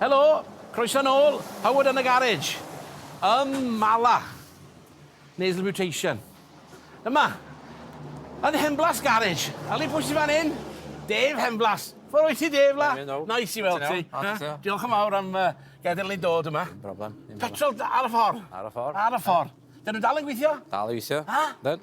Helo! Croeso nôl! Howard yn y garej! Ym Mala! Nasal mutation. Yma! Yn Henblas garej! Ali pwy sy fan hyn? Dave Henblas! Ffor wyt ti Dave la? Nice i weld ti! Diolch yn fawr am gadael ni dod yma. Dim problem. Petrol ar y ffor? Ar y ffor. Ar y ffor. Dyn nhw dal yn gweithio? Dal i weithio. Ha? Ydyn.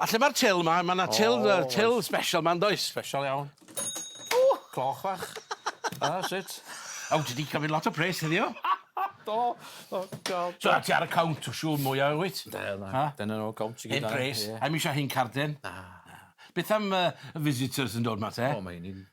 A lle ma'r til 'ma? Ma' 'na til yy til sbesial 'ma yndoes? Sbesial iawn. O! Cloch fach. A sut? O ti 'di cymryd lot o pres heddiw. Do. O God. So ti ar y count o siŵr mwya wyt? Yndw yndw. Ha? Dyna fo count i gyd. Hen pres. Ie. Ai'm isio hen carden. Na. Na. Beth am yy y visitors yn dod 'ma te? O mae 'yn ni'n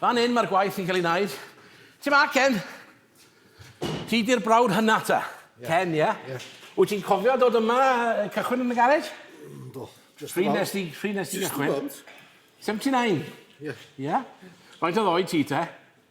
Fan hyn mae'r gwaith yn cael ei wneud. Ti ma, Ken? Ti di'r brawd hynna ta? Yeah. Ken, ie? Yeah? Yeah. Wyt ti'n cofio dod yma, cychwyn yn y garej? Mm, do. Pryd nes ti, pryd nes ti gychwyn? 79? Ie. Ie? Faint oedd oed ti te?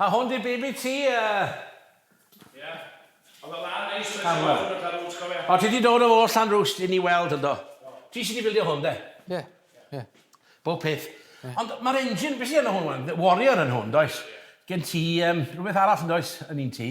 A hwn di baby ti yy. Ia. Oedd o dda neis nes i weld y Llanrwst cofia. O ti di dod o ôl Llanrwst i ni weld yndo? Do. Ti sy di bildio hwn de? Ie. Ie. Bob peth. Ond ma'r engine be sy arno hwn wan? Warrior yn hwn does? Gen ti yym rwbeth arall yndoes yn un ti?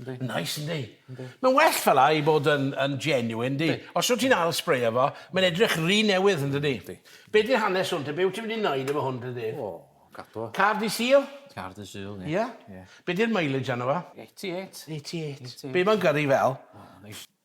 Yndi. Neis yndi? Yndi. Mae'n well fel 'a i bod yn yn genuine yndi? Yndi. Os wt ti'n ail sbreio fo mae'n edrych ry newydd yndydi? Yndi. Be' 'di'r hanes hwn te be' wt ti wedi neud efo hwn te Dave? O, cadw o. Car Dydd Sul? Car Dydd Sul ie. Ie? Ie. Be' 'di'r mileage arno fo? 88. 88. 88. Be' ma'n gyrru fel? O neis.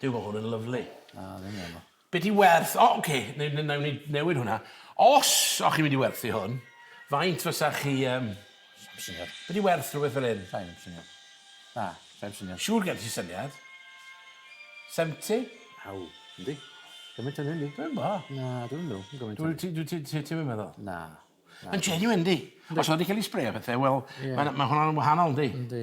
Duw ma hwn yn lyfli. Na ddim yn meddwl. Be di werth o oce ne- ne- newn ni newid hwnna. Os o chi'n mynd i werthu hwn faint fysa chi yym... Sa'm syniad. Be di werth rhywbeth fel hyn? Sai'n syniad. Na, sai'n syniad. Siŵr gen ti syniad. Seventy? Aw, yndi. Gymaint â hynny. Dwi'm bo. Na dwi'm meddwl ma gymaint â hynny. Dwyt ti ti ti'm yn meddwl? Na. Ma'n genuine yndi? Os o'dd o 'di ca'l 'i sbreio a pethe wel ma' na ma' hwnna'n wahanol yndi? Yndi.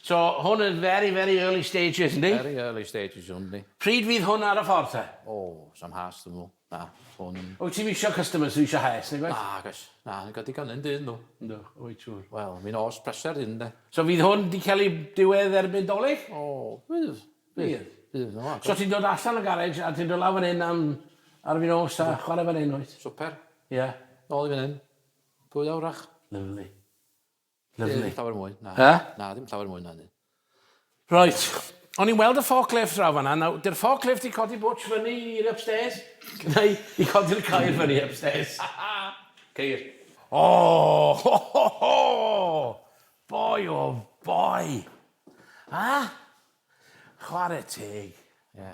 So hwn yn very very early stages yndi? Very early stages hwn yndi. Pryd fydd hwn ar y ffordd te? O, sam has dw'm yn gwbo. Na, hwn yn... Wyt ti'm isio customers sydd isio haes nag oes? Nag oes. Na, ni'n cael digon un dydd nhw. Yndw, wyt siŵr. Wel, mi nos pleser ydyn ynde? So fydd hwn 'di cael ei diwedd erbyn Dolig? O, fydd. Fydd? Fydd, na. So ti'n dod allan o garej a ti'n dod lawr fan hyn am ar fin nos a chwarae fan hyn wyt? Swper. Ie. Nôl i fan hyn. Dwy awr fach. Lyfli. Lyfli. Dim llawer mwy, na. He? Na, dim llawer mwy na hynny. Reit. O'n i'n weld y forklift draw fanna. Nawr, dy'r forklift i codi bwtsh fyny i'r upstairs, neu i codi'r ceir fyny upstairs. Ceir. O! Ho, ho, ho! Boi o boi! A? Chwarae teg. Ie.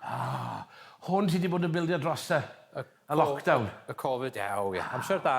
Ah, hwn ti 'di bod yn bildio dros y y lockdown. Y Covid, ie, o ie. Amser da.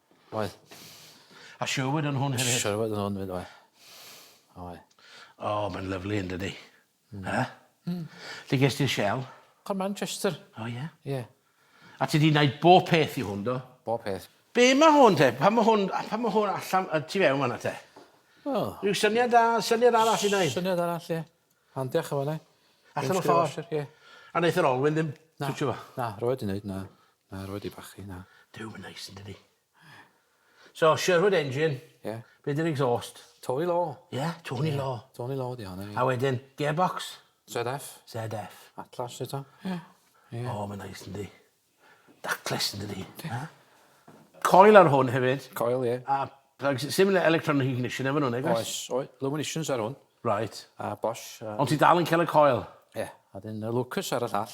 Oedd. A Sherwood yn hwn hefyd? Sherwood yn hwn 'fyd oedd. Oedd. O mae'n lyfli yndydi? Hmm. Yy? Hmm. Lle ges di'r shell? O Manchester. O ie? Ie. A ti 'di neud bo' peth i hwn do? Bo' peth. Be' ma' hwn te? Pan ma' hwn a pan ma' hwn allan yy tu fewn fan 'na te? O. Ryw syniad da syniad arall i neud? Syniad arall ie. Ond diolch yn fawr 'ny. Allan o ffor. Ie. A neith yr olwyn ddim twtsio fo? Na, rhoed i neud na. Na, rwy wedi bachu, na. Duw, mae'n neis, yndydi? So, Sherwood engine. Ie. Be di'r exhaust? Tony Law. Ie, Tony Law. Tony Law di hon, ie. A wedyn, gearbox? ZF. ZF. Atlas eto. Ie. Ie. O, mae'n neis, yndydi? Ductless, yndydi? Ie. Coil ar hwn hefyd. Coil, ie. A plugs, similar electronic ignition efo nhw'n egos? Oes, oes. Luminations ar hwn. Right. A Bosch. Ond ti dal yn cael y coil? Ie. A dyn Lucas ar y llall.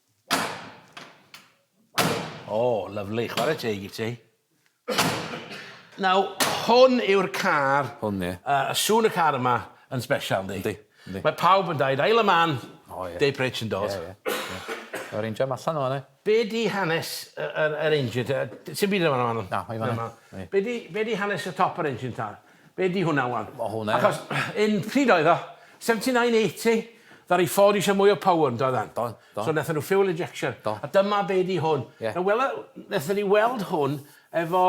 O, lyfli. Chwarae teg i ti. Nawr, hwn yw'r car... Hwn, ie. ...a sŵn y car yma yn sbesial, yndi? Yndi, yndi. Mae pawb yn dweud, ail y man, Dave Pritch yn dod. Ie, ie, ie. Yr injan allan o fan'na. Be di hanes yr yr engine te? Sim byd yn fan 'na. Na, mae fan 'na. Be di be di hanes y top yr engine ta? Be di hwnna wan? O hwnna ia. Achos yn pryd oedd o? 79, 80? Ddaru Ford isio mwy o power yn doeddan? Do, do. So nathon nhw fuel injection. Do. A dyma be di hwn. Ie. Nawr wela- nathon ni weld hwn efo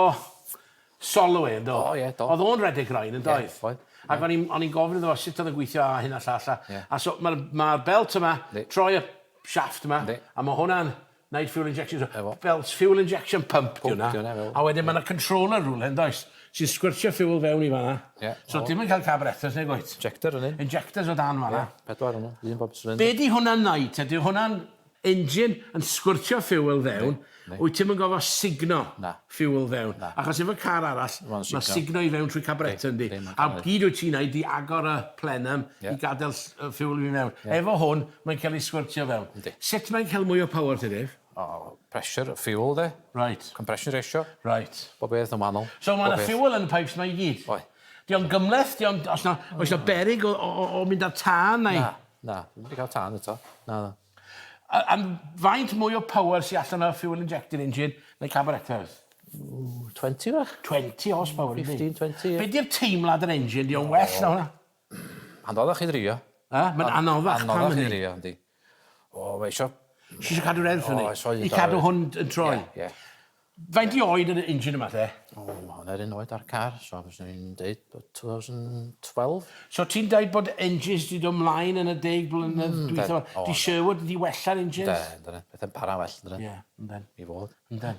Solway yn do? O ie, do. Oedd o'n redeg rain yn doedd? Ie, oedd. Ac o'n i'n o'n i'n gofyn iddo fo sut oedd yn gweithio a hyn a llall a... Ie. ...a so ma'r ma'r belt yma... Yndi. ...troi y shaft yma... Yndi. ...a ma' hwnna'n Night fuel injection so... 'na fo. ...fel s- fuel injection pump 'di wnna. Pump 'di wnna fel. A wedyn ma' 'na controller rwle yndoes? Sy'n sgwrtio fuel fewn i fan 'na. Ie 'na fo. So ti'm yn ca'l carburetors nag wyt? Injector yn un. Injectors o dan fan 'na. Ie pedwar o nw un bob cylinder. Be' 'di hwnna'n neud te? 'Di hwnna'n engine yn sgwrtio fuel fewn... Yndi yndi. ...wyt ti'm yn gorfo sugno... Na. ...fuel fewn. Na. Achos efo car arall... Ma'n sugno. ...ma'n sugno i fewn trwy carburetor yndi? Yndi yndi ma'n ca'l e. A gyd wyt ti'n neud 'di agor y plenum... Ie. ...i gadel ll- yy fuel i fyn' mewn. Ie. Efo hwn Mae'n cael ei sgwrtio fel. Yndi. Sut mae'n cael mwy o power te Dave? O pressure y fuel de. Reit. Compression ratio. Reit. Bob peth yn wahanol. So ma' 'na fuel yn y pipes 'ma i gyd? Oe'. 'Di o'n gymhleth 'di o'n os 'na oes 'na beryg o o o o mynd ar tân neu? Na na ddim 'di ca'l tân eto. Na na. A a m- faint mwy o power sy allan o'r fuel injected engine na carburetors? Ww 20 fach. 20 horse power yndi? Fifteen twenty ie. Be' 'di'r teimlad yr engine 'di o'n well na hwnna? Anoddach i ddrio. Yy mae'n anoddach pam hynny? Anoddach i ddrio yndi. O mae isio... Ti isio cadw'r erth fyny? O isio i cadw hwn yn troi? Ie ie. Faint i oed yn y engine yma te? O ma' hwn yr un oed â'r car so fyswn i'n deud bod 2012. So ti'n deud bod engines di do mlaen yn y deg blynedd dwytha ma? Di Sherwood di wella'r engines? Yndyn yndyn petha'n para well yndyn? Ie yndyn. I fod. Yndyn.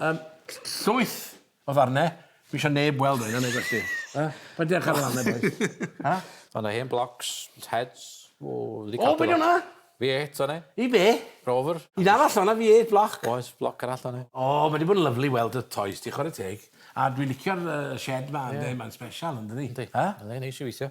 Yym, llwyth o ddarne, fi isio neb weld rheina neu gwell fi. Yy? Paid di â chwara lan 'na bois. Ha? O' 'na hen blocs, heads, o fi 'di cadw lot. O be' 'di wnna? Vee eight o' 'ne. I be? Rover. Un arall o' 'na Vee eight bloc. Oes, bloc arall o' 'ne. O, ma' 'di bod yn lyfli weld y tois ti, chware teg. A dwi licio'r yy shed 'ma ynde, mae'n sbesial yndydi? Yndi. Yy? Yndi, neis i weithio.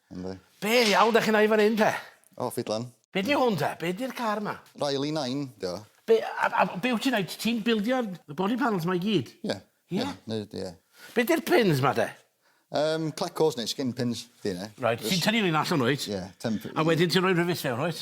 Yndi. Be' ddiawl 'dach chi'n neud fan 'yn te? O ffidlan. Be' 'di hwn te? Be' 'di'r car 'ma? Riley Nine 'di o. Be' a a be' wt ti'n neud? Ti'n bildio y body panels 'ma i gyd? Ie. Ie? Ie ne' ydi e. Be' 'di'r pins 'ma te? Yym clecos neu skin pins 'di 'e. Reit ti'n tynnu reina allan wyt? Ie temp- A wedyn ti'n roi rivets fewn wyt?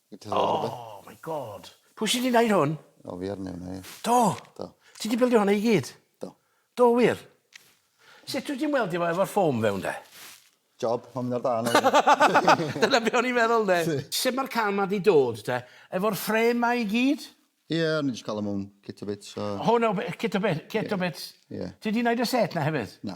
Oh my God! Pwy sy 'di neud hwn? O fi ar neud 'wn ie. Do? Do. Ti 'di bildio honna i gyd? Do. Do wir? Sut wyt ti'n weldio fo efo'r foam fewn de? Job, ma'n mynd ar dân efyd. Dyna be' o'n i'n meddwl 'nde? Sut ma'r can 'ma 'di dod te? Efo'r frame 'ma i gyd? Ie, o'n i jyst ca'l o mewn kit o bits so... Hwn o b- kit o bit kit o bits? Ie. Ti 'di neud y set 'na hefyd? Na.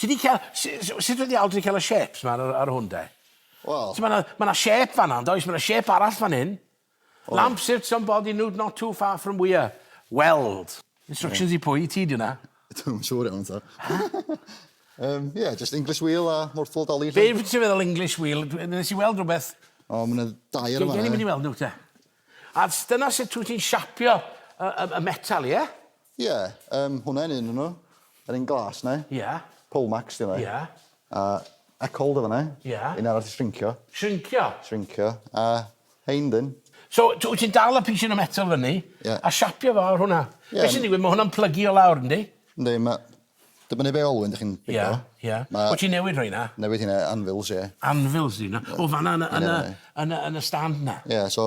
Ti di cael... Sut y diawl ti di cael y shapes ma ar, ar hwn de? Wel... Mae yna ma shape fanna, yn does? Mae yna shape arall fan hyn. Oh. Lamp sits on body nude not too far from where. Weld. Instructions yeah. i pwy? I ti di hwnna? Dwi'n siŵr iawn ta. um, yeah, just English wheel a mortal dolly. Be ti'n feddwl English wheel? Nes i weld rhywbeth... O, oh, mae'n dair yma. Gen i mynd i weld nhw te. A dyna sut ti'n siapio y, y, y metal, ie? Yeah? Ie, yym, hwnna yn un o nhw. Yr un glas 'na. Ie. Polmax 'di hwnna. Ie. A Ecold yn fan'na. Ie. Un arall 'di shrincio. Shrincio? Shrincio. A rhein 'dyn. So, t- wyt ti'n dal y pishyn o metal fyny... Ie. ...a siapio fo ar hwnna. Ie. Be' sy'n digwydd, ma' hwnna'n plygu o lawr, yndi? Yndi, ma'... Dibynnu be' olwyn 'dych chi'n bigo. Ie, ie. Ma'... Wyt ti'n newid rheina? Newid heina, anvils, ie. Anvils 'di hwnna. O, fan'na yn y yn y yn y yn y stand 'na? Ie, so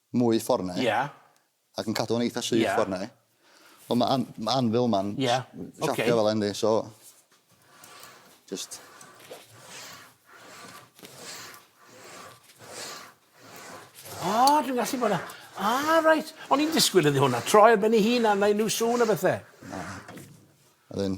mwy ffor 'na. Ia. Ac yn cadw fo'n eitha syth... Ia. ...ffor 'na. Wel ma' an- ma' anvil 'ma'n... Ia oce. ...siapio fel 'a yndi so jyst... O dwi'n gallu bod y- Ah reit. O'n i'n disgwl iddi hwnna troi ar ben 'i hun a neu' n'w sŵn a bethe. Na. Wedyn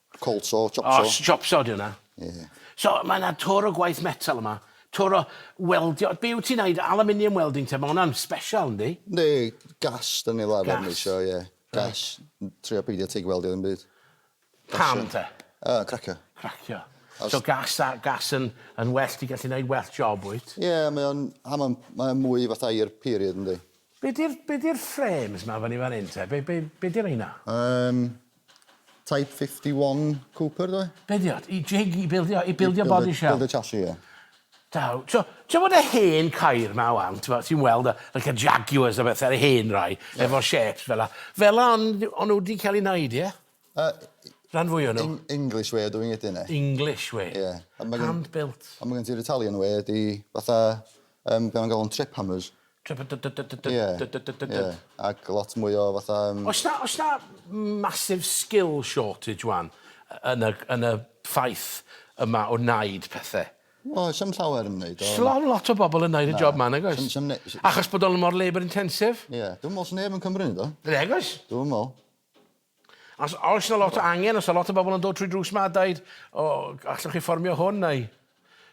Colso, chopso. O, chopso ydy hwnna. Ie. So, mae yna twr o gwaith metal yma, twr o weldio. Be wyt ti'n wneud, aluminium welding te, mae hwnna'n special, yndi? Yndi, gas dan ni fel arfer yn iwsio, ie. Gas. Trio peidio tig weldio ddim byd. Pam te? Yy, cracio. Cracio. So gas a gas yn yn well, ti'n gallu wneud well job wyt? Ie, mae o'n a mae'n mae o'n mwy fatha i'r period yndi? Be di'r be di'r frames ma fyny fan hyn te? Be be be di reina? Yym, Type 51 Cooper ddo? Be di o? I jig, i bildio, i bildio body shell? Bildio chassis, ie. Daw, ti'n gwybod y hen cair ma wan, ti'n weld y, like y Jaguars a bethau, y hen rai, yeah. efo shapes fel la. Fel la, ond on nhw wedi cael ei wneud, ie? Uh, Rhan fwy o nhw. English way o doing it, yna. English way? Ie. Yeah. Hand-built. A mae gen ti'r Italian way, di fatha, um, gan gael o'n trip hammers. Ie, ie, ac lot mwy o fatha yym... Oes 'na oes 'na massive skill shortage 'wan yn y yn y ffaith yma o wneud pethe? O, oes 'na'm llawer yn neud o. Sdim on' lot o bobol yn neud y job 'ma nag oes? Na, sdim ne- s-... Achos bod o mor labour intensive? Ie, dwi'm me'wl sa neb yn Cymru neud o. Nag oes. Dwi'm yn me'wl. Os oes yna lot o angen, os yna lot o bobl yn dod trwy drws ma a dweud, o, allwch chi fformio hwn, neu...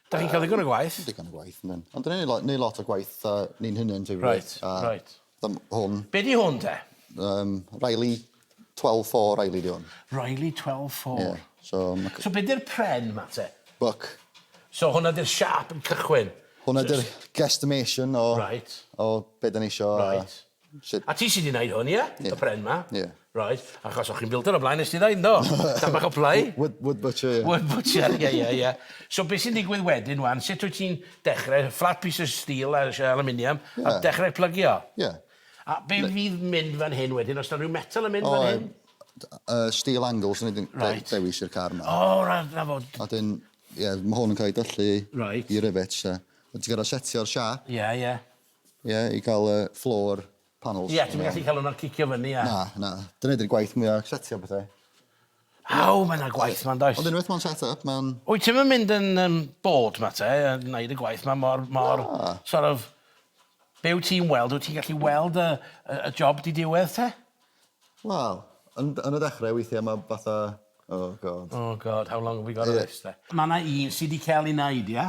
Da chi'n cael ddigon o gwaith. Digon o gwaith, yndyn. Ond da ni'n neud lot o gwaith uh, ni'n hynny'n ti'n Right, right. Dam hwn. Be di hwn te? Um, Riley 12-4 Riley di hwn. Riley 12-4. Yeah, so, ma... so be di'r pren ma te? Buck. So hwnna di'r siap yn cychwyn? Hwnna di'r guesstimation o, right. o be da ni isio. Right. Uh, Shwt... A ti sy 'di neud hwn ie? Ie. Y pren 'ma? Ie. Reit achos o' chi'n bildio o blaen nes ti ddeud yndo? Tam bach o play. Wood wood butcher ie. Wood butcher ie ie ie. So be' sy'n digwydd wedyn ŵan sut wyt ti'n dechre flat piece of steel a sh- aluminium... Ie. ...a dechre plygio? Ie. A be' fydd mynd fan hyn wedyn os 'na ryw metal yn mynd fan hyn? O d- yy steel angles o'n i 'di... Reit. ...dewis i'r car 'ma. O reit 'na fo. A 'dyn ie ma' hwn yn ca'l 'i dyllu... Reit. ...i rivets a ma' ti gor'o' setio'r siâp. Ie ie. Ie, i gael y floor panels. Ie, ti'm yn gallu cael hwnna'n cicio fyny a... Na, na. Dyna ydy'r gwaith mwya setio pethau. Aw, mae yna gwaith yma, yn does? Ond unwaith mae'n set up, mae'n... Wyt ti'm yn mynd yn um, bored ma te, a wneud y gwaith ma mor, mor, Na. sort of, be wyt ti'n weld, wyt ti'n gallu weld y, y, y job di diwedd te? Wel, yn, yn y dechrau weithiau mae fatha... Oh god. Oh god, how long have we got of this te? Mae yna un sydd wedi cael ei wneud, ie?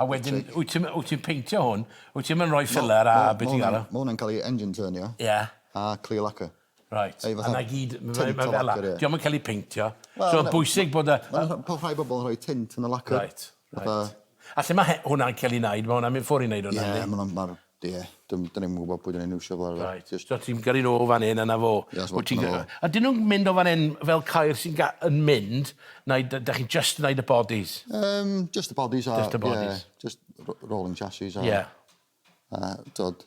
A wedyn wyt ti'n wyt ti'n peintio hwn, wyt ti'm yn rhoi filler a be' ti'n galw? Ma' hwnna'n cael ei engine turnio. Ie. A clear lacquer. Reit. Neu fatha... A 'na i gyd ma' fe ma' fela. Dio'm yn cael ei peintio. So ma'n bwysig bod y... Ma' po- rhai bobol yn rhoi tint yn y lacquer. Reit reit. Fatha... A lle ma' he- hwnna'n cael ei neud ma' hwnna'n mynd ffwr' i neud hwnna yndi? Ie ma' wnna'n ma'r Ie, dyn ni'm yn gwybod pwy dyn ni'n iwsio fel arfer. Reit, so ti'n gyrru nhw o fan hyn a 'na fo? Ie, so dyna fo. A dyn nhw'n mynd o fan hyn fel ceir sy'n yn mynd, neu dach chi'n jyst yn wneud y bodies? Yym, jyst y bodies a... Jyst y bodies? Ie, jyst rolling chassis a... Ie. A dod,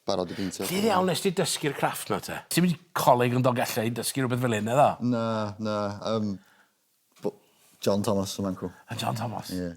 barod i beintio. Lle ddiawl wnest ti dysgu'r crafft 'na te? Ti'm yn coleg yn Dolgellau yn dysgu rhywbeth fel hyn, naddo? Na, na, yym, John Thomas, y man 'cw. A John Thomas? Ie.